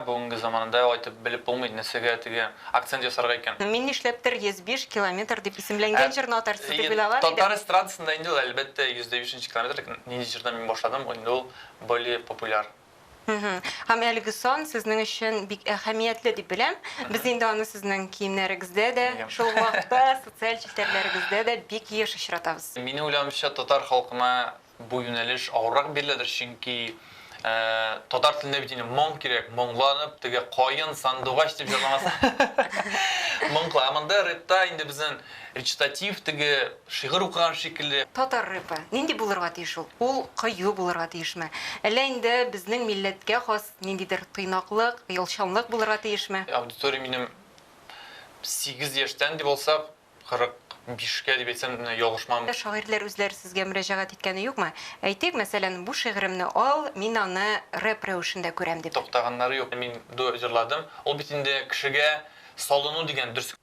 Бүгенге заманында алай итеп белеп булмый, нәрсәгә теге акцент ясарга икән. Мин нишләптер 105 километр дип исемләнгән җырны атарсыз дип уйлаган идем. Татар эстрадасында инде ул, әлбәттә, 105 нче километр, ләкин нинди җырдан мин башладым, инде ул более популяр. Һәм әлеге сан сезнең өчен бик әһәмиятле дип беләм. Без инде аны сезнең киемнәрегездә дә, шул ук вакытта социаль челтәрләрегездә дә бик еш очратабыз. Минем уйлавымча, татар халкына Бу юнәлеш авыррак биреләдер, чөнки татар телендә бит инде моң кирәк, моңланып, теге каен, сандугач дип җырламаса. Моңкла. Ә монда рэпта инде безнең речитатив, теге шигырь укыган шикелле. Татар рэпы нинди булырга тиеш ул? Ул кыю булырга тиешме? Әллә инде безнең милләткә хас ниндидер тыйнаклык, оялчанлык булырга тиешме? Аудиториям минем сигез яшьтән дип алсак, 45 кә дип әйтсәм менә ялгышмам. Шагыйрьләр үзләре сезгә мөрәҗәгать иткәне юкмы? Әйтик, мәсәлән, бу шигыремне ал, мин аны рэп рәвешендә күрәм, дип. Туктаганнары юк. Мин дуэт җырладым. Ул бит инде кешегә салыну дигән дөрес.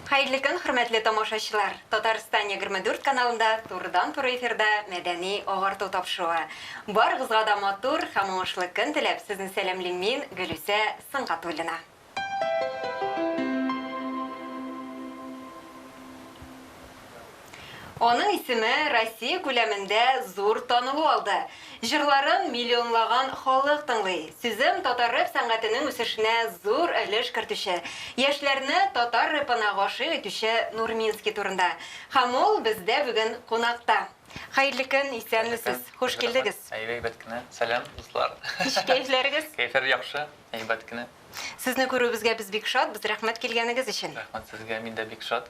Хәерле көн, хөрмәтле тамашачылар! Татарстан егерме дүрт каналында турыдан-туры эфирда мәдәни агарту тапшыруы. Барыгызга да матур һәм уңышлы көн теләп, сезне сәламлим мин, Гөлүсә Сөнгатуллина. Аның исеме Россия күләмендә зур танылу алды. Җырларын миллионлаган халык тыңлый. Сүзем татар рэп сәнгатенең үсешенә зур өлеш кертүче, яшьләрне татар рэпына гашыйк итүче Нурминский турында. Һәм ул бездә бүген кунакта. Хәерле көн, исәнмесез, хуш килдегез. Әйбәт кенә. Сәлам, дуслар. Ничек кәефләрегез? Кәефләр яхшы, әйбәт кенә. Сезне күрүебезгә без бик шатбыз, рәхмәт килгәнегез өчен. Рәхмәт сезгә, мин дә бик шат.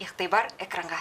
Игътибар экранга.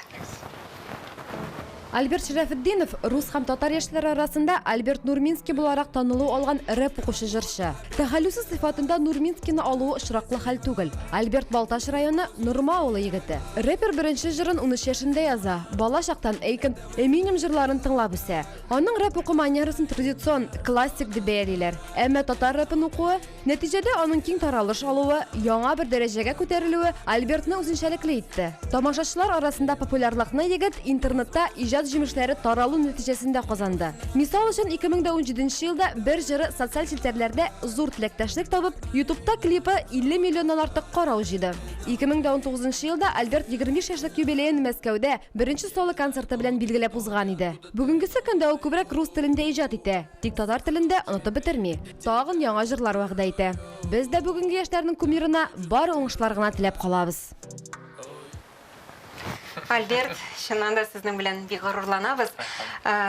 Альберт Шәрәфетдинов, рус һәм татар яшьләре арасында Альберт Нурминский буларак танылу алган рэп укучы җырчы. Тәхәллүсе сыйфатында Нурминскийны алуы очраклы хәл түгел. Альберт Балтач районы Норма авылы егете. Рэпер беренче җырын унөч яшендә яза, бала чактан Эйкон, Эминем җырларын тыңлап үсә. Аның рэп уку манерасын традицион, классик дип бәялиләр. Әмма татар рэпын укуы, Нәтиҗәдә аның киң таралыш алуы, яңа бер дәрәҗәгә күтәрелүе Альбертны үзенчәлекле итте. Тамашачылар арасында популярлыкны егет интернетта иҗат җимешләре таралу нәтиҗәсендә казанды. Мисал өчен, 2017 елда бер җыры социаль челтәрләрдә зур теләктәшлек табып, Ютубта клипы 50 миллионнан артык карау җыйды. 2019 елда Альберт 25 яшьлек юбилеен Мәскәүдә беренче соло концерты белән билгеләп узган иде. Бүгенгесе көндә ул күбрәк рус телендә иҗат итә. Тик татар телендә онытып бетерми, тагын яңа җырлар вәгъдә итә. Без дә бүгенге яшьләрнең кумирына бары уңышлар гына теләп калабыз. Альберт, чыннан да сезнең белән бик горурланабыз.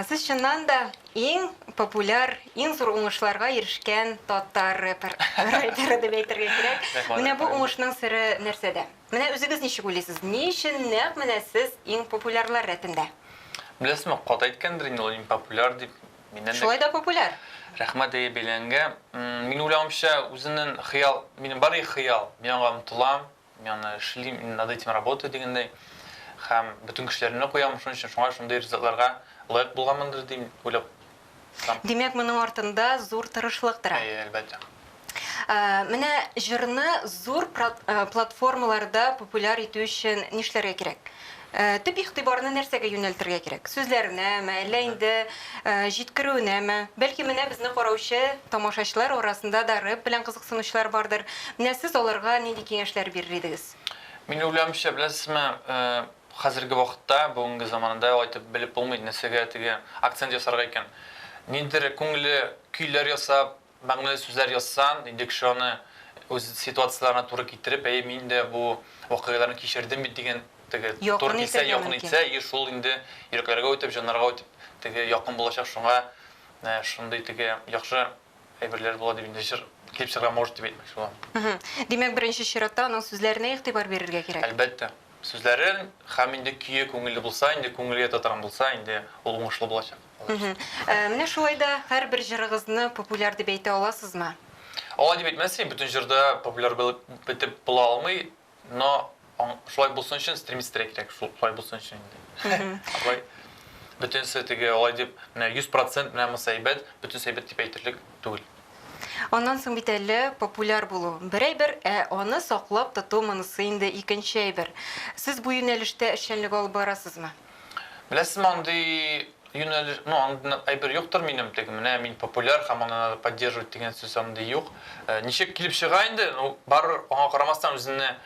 Сез чыннан да иң популяр, иң зур уңышларга ирешкән татар рэпер, райдеры дип әйтергә кирәк. Менә бу уңышның сере нәрсәдә? Менә үзегез ничек уйлыйсыз, ни өчен нәкъ менә сез иң популярлар рәтендә? Беләсезме, каты әйткәндер инде ул иң популяр дип. Миннән дә Шулай да популяр. Рәхмәт әйе бәйләнгә. Минем уйлавымча, үземнең хыял, минем бар и хыял, мин аңа омтылам, мин аны эшлим, мин над этим работаю дигәндәй. Һәм бөтен көчләремне куям шуның өчен, шуңа шундый результатларга лаек булганмындыр дип уйлап Димәк, моның артында зур тырышлык тора. Әйе, әлбәттә. Ә, менә җырны зур э, платформаларда популяр итү өчен нишләргә кирәк? Ә, төп игътибарны нәрсәгә юнәлтергә кирәк? Сүзләренәме, әллә инде ә, җиткерүенәме? Бәлки менә безне караучы тамашачылар арасында да рэп белән кызыксынучылар бардыр. Менә сез аларга нинди киңәшләр бирер идегез? Мин уйлавымча, беләсезме, э, Хәзерге вакытта, бүгенге заманада алай итеп белеп булмый, нәрсәгә теге акцент ясарга икән. Ниндидер күңелле көйләр ясап, мәгънәле сүзләр язсаң, инде кеше аны үз ситуацияләренә туры китереп, әйе, мин дә бу вакыйгаларны кичердем бит дигән теге туры килсә, якын итсә, и шул инде йөрәкләргә үтеп, җаннарга үтеп теге якын булачак, шуңа шундый теге яхшы әйберләр була дип инде җыр килеп чыгарга может дип әйтмәкче булам. Димәк, беренче чиратта аның сүзләренә игътибар бирергә кирәк. Әлбәттә. Сүзләрен хәм инде көе күңелле булса, инде күңелгә татырган булса, инде ул уңышлы булачак. Менә шулай да һәрбер җырыгызны популяр дип әйтә аласызмы? Алай дип әйтмәссең, бөтен җыр да популяр булып бетеп була алмый, но шулай булсын өчен стремиться-рәк кирәк, шулай булсын өчен инде. Алай бөтенесе теге алай дип, менә 100% менә монысы әйбәт, бөтенесе әйбәт дип әйтерлек түгел. Аннан соң бит әллә популяр булу, бер әйбер, ә аны саклап тоту монысы инде икенче әйбер. Сез бу юнәлештә эшчәнлек алып барасызмы? Беләсезме, андый юнәлеш, ну, андый нык әйбер юктыр минем, теге, менә мин популяр һәм аны надо поддерживать дигән сүз андый юк. Ничек килеп чыга инде, ну, барыбер, аңа карамастан үзеңне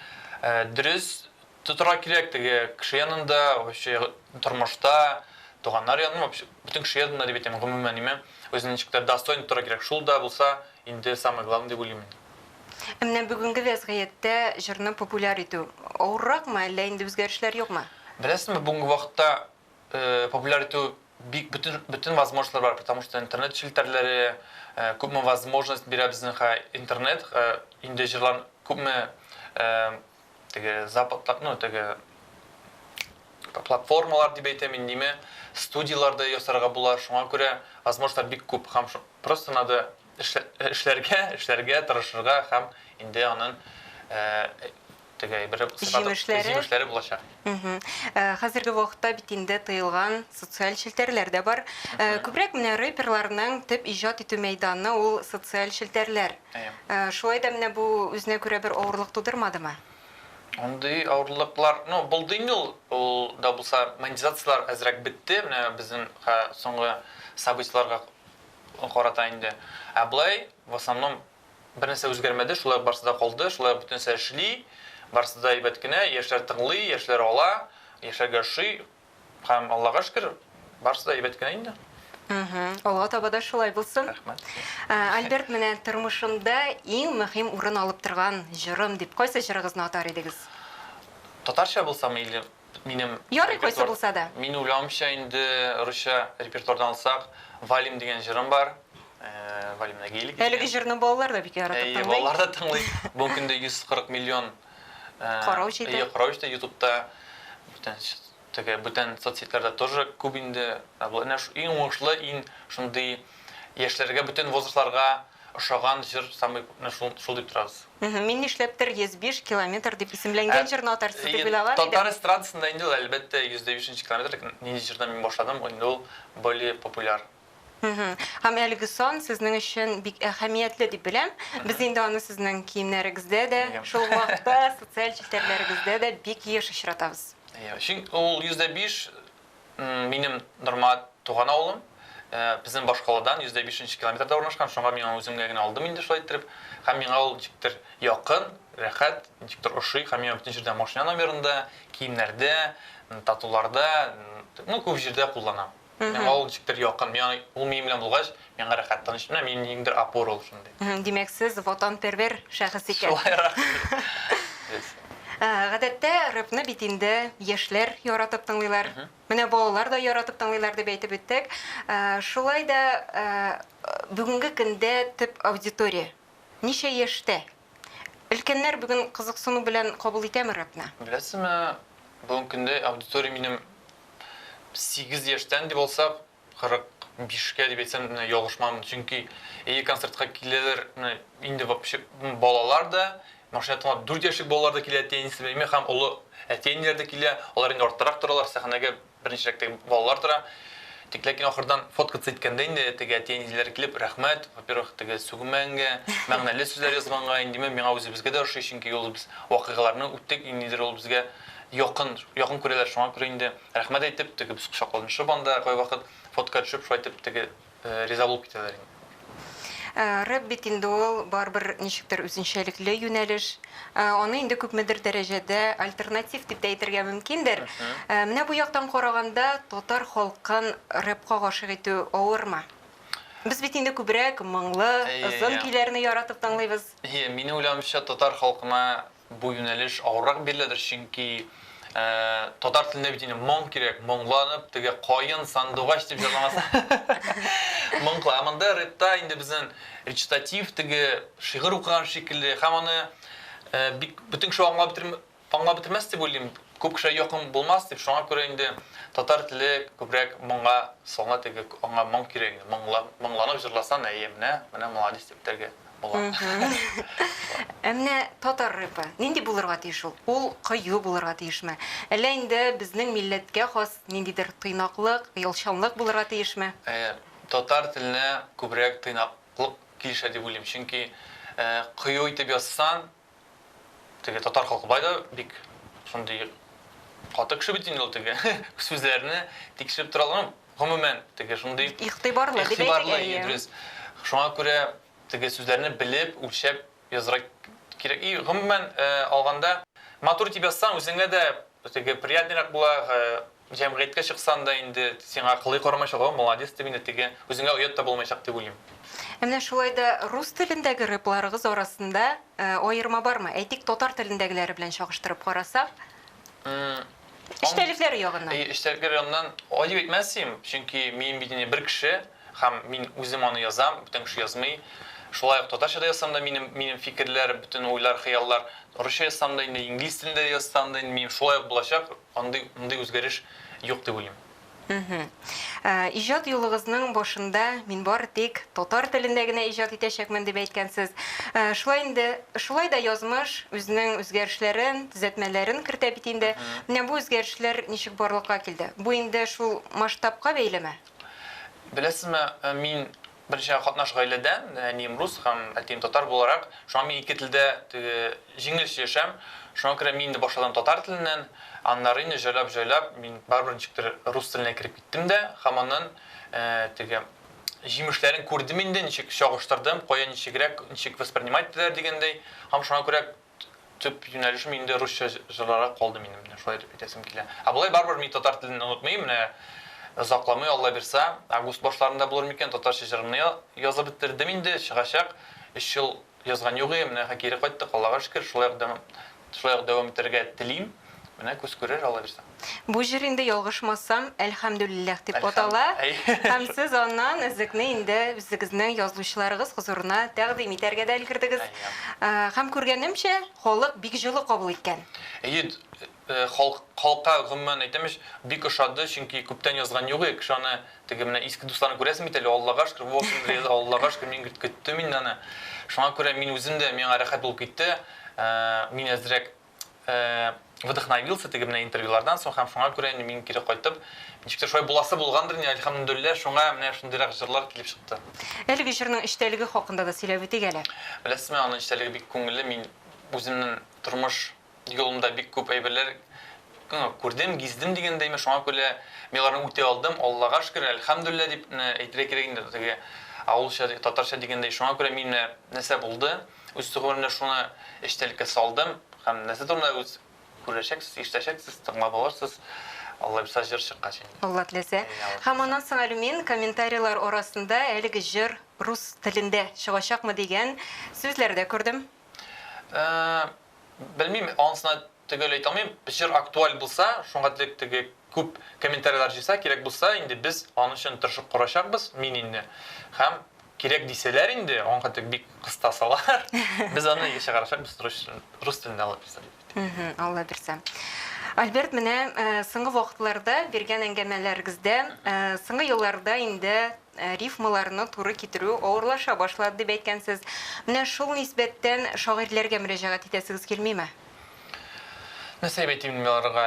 дөрес Тотарга кирәк теге кеше янында, вообще тормышта, туганнар янында, вообще бөтен кеше янында дип әйтәм, гомумән име, үзен ничек тә достойно тотарга кирәк, шул да булса инде самое главное дип уйлыйм мин. Ә менә бүгенге вәзгыятьтә җырны популяр итү авырракмы, әллә инде үзгәрешләр юкмы? Беләсезме, бүгенге вакытта популяр итү бик бөтен бөтен возможностьлар бар, потому что интернет челтәрләре күпме возможность бирә безнең интернет, инде җырлар күпме теге западта, ну, теге платформалар дип әйтәм индеме, студияләрдә ясарга була. Шуңа күрә возможностьлар бик күп һәм просто надо эшләргә, эшләргә, тырышырга һәм инде анын теге бер җимешләре булачак. Хәзерге вакытта бит инде тыелган социаль челтәрләр дә бар. Күбрәк менә рэперларның төп иҗат итү мәйданы ул социаль челтәрләр. Шулай да менә бу үзенә күрә бер авырлык тудырмадымы? Мондый авырлыклар, ну, булды инде ул. Ул да булса, монетизацияләр әзрәк бетте, менә безнең соңгы событиеләргә карата инде. Ә болай, в основном, бернәрсә үзгәрмәде, шулай ук барысы да калды, шулай ук бөтенесе эшли, барысы да әйбәт кенә, яшьләр тыңлый, яшьләр ала, яшьләргә ошый, Һәм Аллага шөкер, барысы да әйбәт кенә инде. Алга таба да шулай булсын. Рәхмәт. Альберт, менә тормышымда иң мөһим урын алып торган җырым дип, кайсы җырыгызны атар идегез? Татарча булса мейле, минем Ярый, кайсы булса да. Мин уйлавымча, инде русча репертуардан алсак, Валим дигән җырым бар. Валимны гейлик. Әлеге җырны балалар да бик яратып тыңлый. Әйе, балалар да тыңлый. Бу көндә 140 миллион Карау җиде. Әйе, карау җиде ютубта бүтән теге бүтән соцсетьләрдә тоже күп инде әнә шу иң уңышлы иң шундый яшьләргә бүтән возрастларга ошаган җыр самый күпне шул шул дип торабыз мин нишләптер 105 километр дип исемләнгән ә, җырны атарсыз дип уйлаган идем татар эстрадасында инде ул әлбәттә 105 нче километр нинди җырдан мин башладым инде ул более популяр Һәм әлеге сан сезнең өчен бик әһәмиятле дип беләм. Без инде аны сезнең киемнәрегездә дә, шул ук вакытта социаль челтәрләрегездә дә бик еш очратабыз. Әйе, чөнки ул 105 минем нормаль туган авылым. Безнең башкаладан 105 нче километрда урнашкан, шуңа мин аны үземгә генә алдым инде шулай иттереп. Һәм миңа ул ничектер якын, рәхәт, ничектер ошый һәм миңа бөтен җирдә машина номерында, киемнәрдә, татуларда, ну, күп җирдә кулланам. Миңа ул ничектер якын. Миңа ул минем белән булгач, миңа рәхәт, тыныч. Менә минем ниңдер опора ул шундый. Димәк, сез ватанпервер шәхес икән. Шулайрак. Без. Гадәттә, рэпны бит инде яшьләр яратып тыңлыйлар. Менә балалар да яратып тыңлыйлар дип әйтеп үттек. Шулай да бүгенге көндә төп аудитория ничә яшьтә? Өлкәннәр бүген кызыксыну белән кабул итәме рэпны? Беләсезме, бүгенге көндә аудитория минем сигез яшьтән дип алсак, кырык бишкә дип әйтсәм менә ялгышмамын. Чөнки әйе, концертка киләләр менә инде вообще балалар да, машина тыңлап дүрт яшьлек балалар да килә, әти-әнисе белән һәм олы әти-әниләр дә килә. Алар инде арттарак торалар, сәхнәгә Беренчелектә балалар тора. Тик ләкин ахырдан фоткаться иткәндә инде теге әти-әниләр килеп, Рәхмәт, во-первых, теге сүгемәнгә, мәгънәле сүзләр язганга, индиме, миңа үзебезгә дә ошый, чөнки ул без вакыйгаларны үттек, и нидер ул безгә якын, якын күрәләр, шуңа күрә инде рәхмәт әйтеп, теге без кочакланышып анда кайвакыт фотка төшеп, шулай итеп теге риза булып китәләр инде. Рэп бит инде ул барыбер ничектер үзенчәлекле юнәлеш. Аны инде күпмедер дәрәҗәдә альтернатив дип тә әйтергә мөмкиндер. Менә бу яктан караганда, татар халкын рэпка гашыйк итү авырмы? Без бит инде күбрәк моңлы, озын көйләрне яратып тыңлыйбыз. Әйе, минем уйлавымча, татар халкына Бу юнәлеш авыррак биреләдер, чөнки татар телендә бит инде моң кирәк, моңланып, теге каен, сандугач дип җырламасын. Моң кыла. Ә монда рэпта инде безнең речитатив, теге шигырь укыган шикелле һәм аны бик бөтен кеше аңлап бетерми, аңлап бетермәс дип уйлыйм, күп кешегә якын булмас дип, шуңа күрә инде татар теле күбрәк моңга салына, теге аңа моң кирәк инде, моңланып җырласаң, әйе, менә, менә маладис дип бетәргә була. Ә менә татар рэпы нинди булырга тиеш ул? Ул кыю булырга тиешме? Әллә инде безнең милләткә хас ниндидер тыйнаклык, оялчанлык булырга тиешме? Татар теленә күбрәк тыйнаклык килешә дип уйлыйм, чөнки кыю итеп язсаң, Теге татар халкы бай да бик шундый каты кеше бит инде ул теге сүзләрне тикшереп тора алган. Гомумән, теге шундый игътибарлы дип әйтергә ия. Дөрес. Шуңа күрә теге сүзләрне белеп, үлчәп язырга кирәк. И гомумән алганда, матур итеп язсаң, үзеңә дә теге приятнерак була, Җәмгыятькә чыксаң да инде сиңа кылый карамаячак, о, молодец дип инде теге, үзеңә оят та булмаячак дип уйлыйм. Ә менә шулай да рус телендәге рэпларыгыз арасында аерма бармы? Әйтик, татар телендәгеләре белән чагыштырып карасак? Эчтәлекләре ягыннан. Әйе, эчтәлекләре ягыннан гади дип әйтмәс идем, чөнки мин бит инде бер кеше һәм мин үзем аны язам, бүтән кеше язмый. Шулай ук татарча да язсам да, минем, минем фикерләр, бөтен уйлар, хыяллар, русча язсам да инде, инглиз телендә язсам да инде минем шулай ук булачак. Андый, мондый үзгәреш юк дип уйлыйм. Мхм. Ә, иҗат юлыгызның башында мин бары тик татар телендә генә иҗат итәчәкмен дип әйткәнсез. Ә, шулай инде, шулай да язмыш үзенең үзгәрешләрен, төзәтмәләрен кертә бит инде. Менә бу үзгәрешләр ничек барлыкка килде? Бу инде шул масштабка бәйлеме? Беләсезме, ә, мин Берничә катнаш гаиләдән, әнием рус һәм әтием татар буларак, шуңа мин ике телдә теге җиңел сөйләшәм. Шуңа күрә мин инде башладым татар теленнән, аннары инде җайлап җайлап мин барыбер ничектер рус теленә кереп киттем дә һәм аннан теге җимешләрен күрдем инде, ничек чагыштырдым, кая ничегрәк, ничек воспринимать итәләр дигәндәй һәм шуңа күрә төп юнәлешем инде русча җырларга калды минем, менә шулай итеп әйтәсем килә. Ә болай барыбер мин татар телен онытмыйм, менә озакламый Алла бирса, август башларында булыр микән, татарча җырымны язып бетердем инде, чыгачак. Өч ел язган юк ием, менә кире кайттык, Аллага шөкер, шулай ук дәвам, шулай ук дәвам итәргә телим. Менә күз күрер, аллабирса. Бу җыр инде, ялгышмасам, Әлхәмдүлилләх дип атала. Һәм сез аннан өзекне инде үзегезнең язучыларыгыз хозурына тәкъдим итәргә дә өлгердегез. Һәм күргәнемчә, халык бик җылы кабул иткән. Әйе, халыкка гомумән әйтәм ич, бик ошады, чөнки күптән язган юк иде. Кеше аны теге менә иске дусларны күрәсең бит әле, Аллага шөкер, вот инде яза, Аллага шөкер, мин көттем инде аны. Шуңа күрә мин үзем дә, миңа рәхәт булып китте. Мин әзрәк вдохновился теге менә интервьюлардан соң һәм шуңа күрә мин кире кайтып ничектер шулай буласы булгандыр инде әлхәмдүлилләһ шуңа менә шундыйрак җырлар килеп чыкты әлеге җырның эчтәлеге хакында да сөйләп үтик әле беләсезме аның эчтәлеге бик күңелле мин үземнең тормыш юлымда бик күп әйберләр күрдем гиздем дигәндәйме шуңа күрә мин аларны үти алдым аллага шөкер әлхәмдүлилләһ дип әйтергә кирәк инде теге авылча татарча дигәндәй шуңа күрә мин нәрсә булды Үз түгелемдә шуны эчтәлеккә салдым һәм нәрсә турында үз күрәчәксез, ишетәчәксез, тыңлап алырсыз, Аллабирса җыр чыккач инде. Алла теләсә. Һәм аннан соң әле мин комментарийлар арасында әлеге җыр рус телендә чыгачакмы дигән сүзләр дә күрдем. Белмим, анысына Төгәл әйтә алмыйм, җыр актуаль булса, шуңа дип теге күп комментарийлар җыйса, кирәк булса, инде без аның өчен тырышып карачакбыз, мин инде. Һәм кирәк дисәләр инде, аңа дип бик кыста салалар, без аны чыгарачакбыз рус телен, рус телендә Алла бирсә дип әйтте. Мһм, Алла бирсә. Альберт, менә соңгы вакытларда биргән әңгәмәләрегездә, соңгы елларда инде рифмаларны туры китерү авырлаша башлады дип әйткәнсез. Менә шул нисбәттән шагыйрьләргә мөрәҗәгать итәсегез килмиме? Нәрсә дип әйтим мин аларга?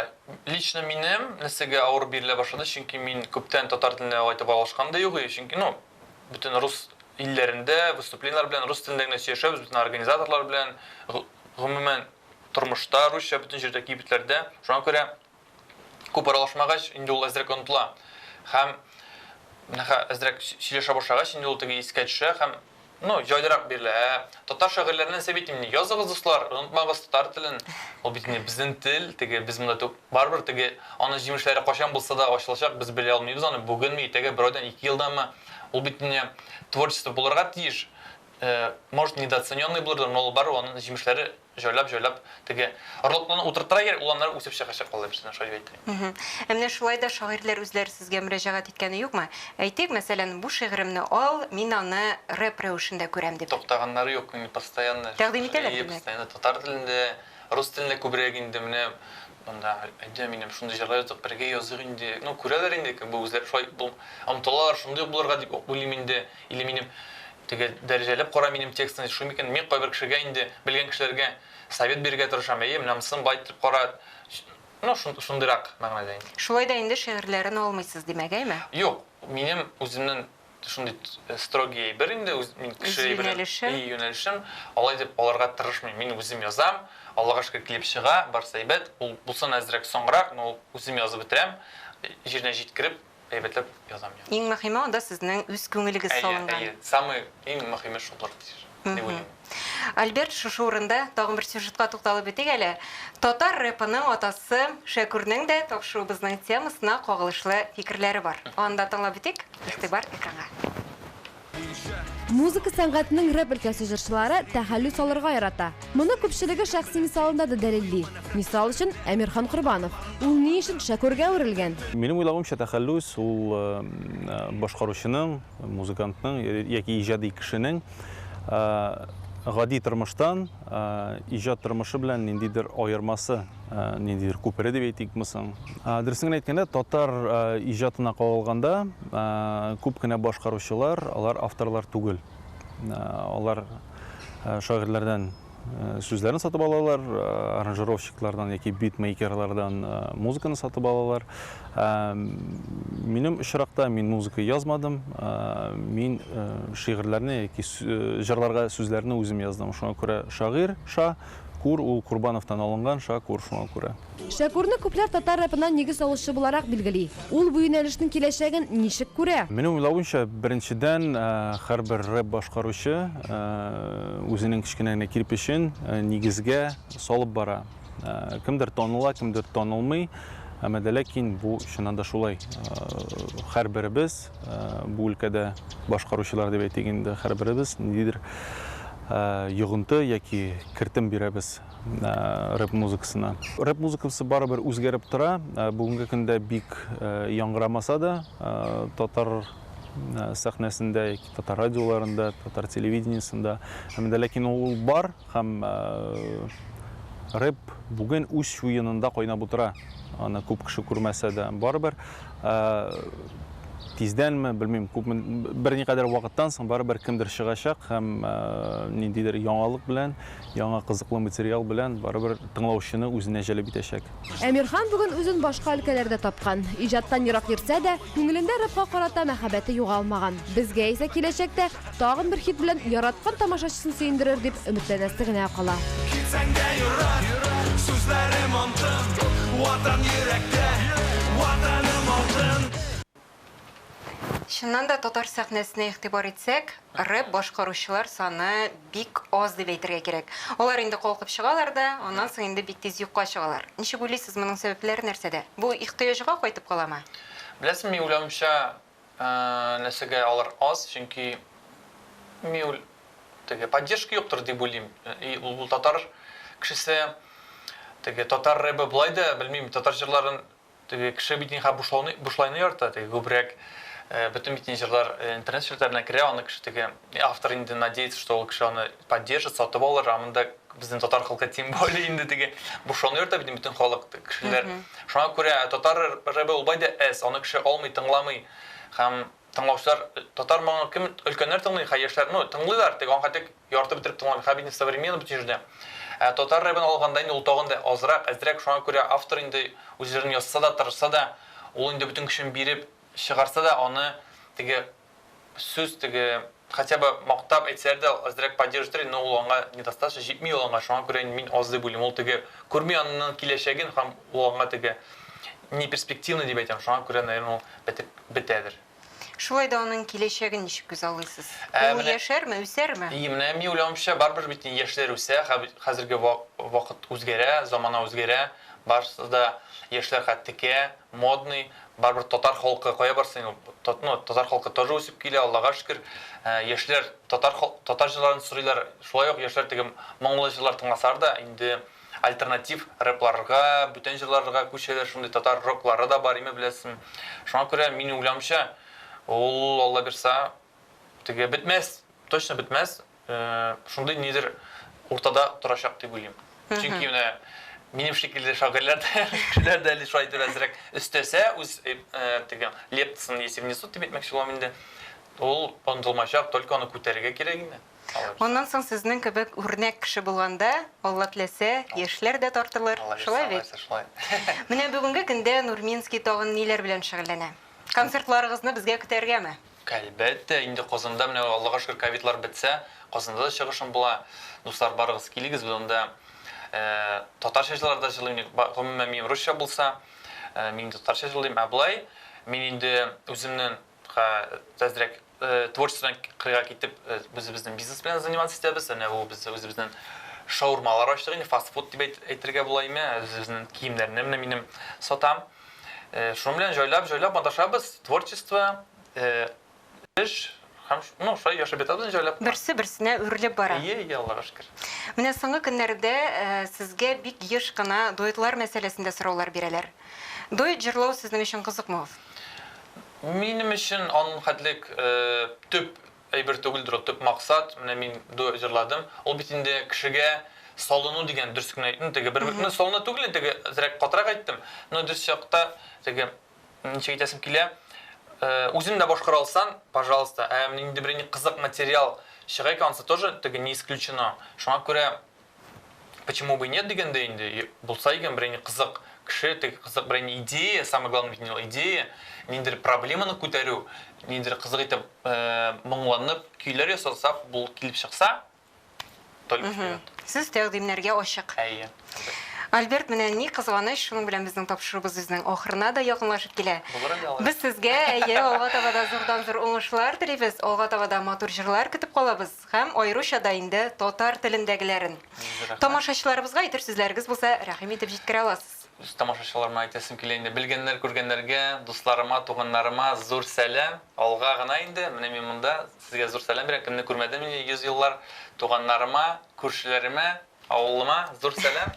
Лично минем нәрсәгә авыр бирелә башлады, чөнки мин күптән татар теленә алай итеп аралашкан да юк и чөнки, ну, бөтен рус илләрендә выступлениеләр белән рус телендә генә сөйләшәбез, бөтен организаторлар белән, гомумән, тормышта русча бөтен җирдә, кибетләрдә. Шуңа күрә Күп аралашмагач, инде ул әзрәк онытыла һәм әзрәк сөйләшә башлагач, инде ул теге искә төшә һәм ну, җайлырак бирелә. Ә татар шагыйрьләреннән нәрсә бит инде? Языгыз, дуслар, онытмагыз татар телен. Ул бит инде безнең тел, теге без монда түк. Барыбер теге аның җимешләре кайчан булса да ачылачак, без белә алмыйбыз аны, бүгенме, иртәгә, бер айдан, ике елданмы. Ул бит инде творчество булырга тиеш. Может, недооцененный булырдыр, но ул барыбер аның җимешләре җайлап җайлап теге ротлыны утыртыра гел, ул аннары үсеп чыгачак ул дибсенә шулай дип әйтә. Мһм. Ә менә шулай да шагыйрьләр үзләре сезгә мөрәҗәгать иткәне юкмы? Әйтик, мәсәлән, бу шигыремне ал, мин аны рэп рәвешендә күрәм, дип. Туктаганнары юк, мин постоянно. Тәкъдим итәләр, димәк. Постоянно татар телендә, рус телендә күбрәк инде менә Монда әйдә минем шундый җырлар языйк, бергә языйк инде. Ну, күрәләр инде, как бы үзләре шулай омтылалар, шундый ук булырга дип ук уйлыйм инде. Или минем теге дәрәҗәләп кара минем текстны, шул микән? Мин кайбер кешегә инде, белгән кешеләргә совет бирергә тырышам, әйе, менә монысын бай итеп кара. Ну, шундыйрак мәгънәдә инде. Шулай да инде шигырьләрен алмыйсыз, димәк, әйме? Юк, минем үземнең. шундый э, строгий әйбер инде үз мин кеше әйберен юнәлешем алай дип аларга тырышмыйм мин үзем язам аллага шөкер килеп чыга барысы әйбәт ул булсын әзрәк соңрак но үзем язып бетерәм җиренә җиткереп әйбәтләп язам иң мөһиме анда сезнең үз күңелегез салынган әйе самый иң мөһиме шулдыр дип уйлыйм. Альберт, шушы урында тагын бер сюжетка тукталып үтик әле. Татар рэпының атасы Шәкүрнең дә тапшыруыбызның темасына кагылышлы фикерләре бар. Аны да тыңлап үтик. Игътибар экранга. Музыка сәнгатенең рэп өлкәсе җырчылары тәхәллү салырга ярата. Моны күпчелеге шәхси мисалында да дәлилли. Мисал өчен, Әмирхан Корбанов. Ул ни өчен Шәкүргә әверелгән? Минем уйлавымча, тәхәллүс, ул башкаручының, Музыкантның яки иҗади кешенең гади тормыштан иҗат тормышы белән ниндидер аермасы, ниндидер күпере дип әйтикме соң? Дөресен генә әйткәндә, татар иҗатына кагылганда, күп кенә башкаручылар, алар авторлар түгел. Алар шагыйрьләрдән сүзләрен сатып алалар, аранжировщиклардан яки битмейкерлардан музыканы сатып алалар. Минем очракта мин музыка язмадым, мин шигырьләрне яки җырларга сүзләрне үзем яздым. Шуңа күрә шагыйрь Ша Кур ул Курбановтан алынган Ша Кур шуңа күрә. Шәкүрне күпләр татар рэпына нигез салучы буларак билгели. Ул бу юнәлешнең киләчәген ничек күрә? Минем уйлавымча, беренчедән, һәрбер рэп башкаручы үзенең кечкенә генә кирпечен нигезгә салып бара. Кемдер таныла, кемдер танылмый, әмма дә ләкин бу чыннан да шулай. Һәрберебез, бу өлкәдә башкаручылар дип әйтик инде, һәрберебез ниндидер йогынты яки кертем бирәбез. Ә, рэп музыкасына. Рэп музыкасы барыбер үзгәреп тора. Ә, бүгенге көндә бик ә, яңгырамаса да, ә, татар ә, сәхнәсендә, яки татар радиоларында, татар телевидениесында, һәм дә ләкин ул бар һәм ә, рэп бүген үз чуенында кайнап утыра. Аны күп кеше күрмәсә дә, барыбер ә, тиздәнме, белмим, күпме берникадәр вакыттан соң барыбер кемдер чыгачак һәм ә, ниндидер яңалык белән, Яңа кызыклы материал белән барыбер тыңлаучыны үзенә җәлеп итәчәк. Әмирхан бүген үзен башка өлкәләрдә тапкан. Иҗаттан ерак йөрсә дә, күңелендә рэпка карата мәхәббәте югалмаган. Безгә исә киләчәктә тагын бер хит белән яраткан тамашачысын сөендерер дип өметләнәсе генә кала. Китсәң дә ерак, сүзләрем антын, Ватан йөрәктә, Ватаным алтын. Чыннан да татар сәхнәсенә игътибар итсәк, рэп башкаручылар саны бик аз дип әйтергә кирәк. Алар инде калкып чыгалар да, аннан соң инде бик тиз юкка чыгалар. Ничек уйлыйсыз, моның сәбәпләре нәрсәдә? Бу ихтыяҗга кайтып каламы? Беләсең, мин уйлавымча, нәрсәгә алар аз, чөнки мин теге поддержка юктыр дип уйлыйм. И ул татар кешесе теге татар рэбы болай да, белмим, татар җырларын Теге кеше бит нихәл бушлауны, бушлайны ярата, теге күбрәк э, бөтен бит ниҗырлар э, интернет челтәренә керә, аны кеше теге э, автор инде надеется, что ул кеше аны поддержит, сатып алыр, ә монда безнең татар халкы тем более инде теге бушлауны ярата бит бөтен халык кешеләр. Шуңа күрә татар рэбе ул бай да әз, аны кеше алмый, тыңламый һәм Тыңлаучылар, Татар моңын кем, өлкәннәр тыңлый, хәй яшьләр, ну, тыңлыйлар, теге аңхәтек ярты бетереп тыңлаган, хәбит не в современном җирдә. Ә татар рэбын алганда инде ул тагын да азрак, әзрәк, шуңа күрә автор инде үз җырын язса да, тырышса да, ул инде бөтен көчен биреп чыгарса да, аны теге сүз, теге. Хотя бы мактап әйтсәләр дә азрәк поддерж итәр иде, но ул аңа недостаточно, җитми ул аңа, шуңа күрә инде мин аз дип уйлыйм, ул теге күрми аннын киләчәген һам ул аңа теге неперспективный дип әйтәм, шуңа күрә наверное ул бетеп бетәдер. Шулай да анын киләчәген ничек күзаллыйсыз? Ә Ул менә яшәрме, үсәрме? И менә мин уйлавымча барыбер бит инде яшьләр үсә, хә хәзерге ва вакыт үзгәрә, замана үзгәрә, барысы да яшьләр хәт текә, модный, Барыбер татар халкы кая барсын ул татно татар халкы тоже үсеп килә Аллага шөкер яшьләр татар татар җырларын сорыйлар шулай ук яшьләр теге моңлы җырлар тыңласар да инде альтернатив рэпларга бүтән җырларга күчәләр шундый татар роклары да бар име беләсен шуңа күрә мин уйламча ул алла бирса теге бетмәс точно бетмәс шундый нидер уртада торачак дип уйлыйм. Чөнки менә минем шикелле шагыйрьләр дә дә әле шулай әзрәк өстәсә, үз теге лептасын если внесут дип әйтмәкче булам инде. Ул онытылмачак, только аны күтәрергә кирәк инде. Моннан соң сезнең кебек үрнәк кеше булганда, Алла теләсә, яшьләр дә тартылыр. Шулай бит? Менә бүгенге көндә Нурминский тагын ниләр белән шөгыльләнә? Концертларыгызны безгә көтәргәме? Әлбәттә, инде Казанда менә Аллага шөкер ковидлар бетсә, Казанда да чыгышым була. Дуслар барыгыз, килегез без анда татарча җырлар да җырлыйм, гомумән минем русча булса, мин инде татарча җырлыйм, ә болай мин инде үземнен әзрәк творчестводан кырыйга китеп, үзебезнең бизнес белән заниматься итәбез, әнә бу без үзебезнең шаурмалар ачтык инде, фастфуд дип әйтергә була име, үзебезнең киемнәрне менә минем сатам. Шуның белән җайлап-җайлап маташабыз, творчество, эш һәм ну, шулай яшәп ятабыз инде җайлап. Берсе берсенә үрелеп бара. Әйе, әйе, Аллага шөкер. Менә соңгы көннәрдә сезгә бик еш кына дуэтлар мәсьәләсендә сораулар бирәләр. Дуэт җырлау сезнең өчен кызыкмы ул? Минем өчен аның хәтлек төп Әйбер түгелдер ул, төп максат, менә мин дуэт җырладым, ул бит инде кешегә салыну дигән, дөрес кенә әйттем, теге бер, ну, салыну түгел инде, теге әзрәк катырак әйттем, но дөрес якта, теге, ничек әйтәсем килә, үзең дә башкара алсаң, пожалуйста, ә менә нинди берәр кызык материал чыга икән, анысы тоже, теге, не исключено, шуңа күрә Почему бы нет дигәндә инде, булса икән бер инде кызык кеше, теге кызык бер инде идея, самое главное бит инде идея, ниндидер проблеманы күтәрү, ниндидер кызык итеп э, моңланып көйләр ясасак, бу килеп чыкса, только вперед. Сез тәкъдимнәргә ачык. Әйе. Альберт, менә ни кызганыч, шуның белән безнең тапшыруыбыз үзенең ахырына да якынлашып килә. Булыр әле алай. Без сезгә әйе, алга таба да зурдан зур уңышлар телибез, алга таба да матур җырлар көтеп калабыз. Һәм аеруча да инде татар телендәгеләрен. Тамашачыларыбызга әйтер сүзләрегез булса, рәхим итеп җиткерә аласыз. Үз тамашачыларыма әйтәсем килә инде, белгәннәр, күргәннәргә, дусларыма, туганнарыма зур сәлам. Алга гына инде, менә мин монда, сезгә зур сәлам бирәм, кемне күрмәдем инде йөз еллар, туганнарыма, күршеләремә, Авылыма зур сәлам.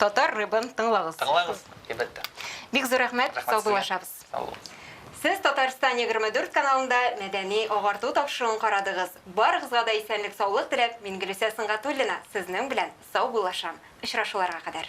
Татар рэбын тыңлагыз. Тыңлагыз, әлбәттә. Бик зур рәхмәт, саубуллашабыз. Саубуллашабыз. Сез Татарстан 24 каналында мәдәни агарту тапшыруын карадыгыз. Барыгызга да исәнлек саулык теләп, мин Гөлүсә Сынгатуллина сезнең белән саубуллашам. Очрашуларга кадәр.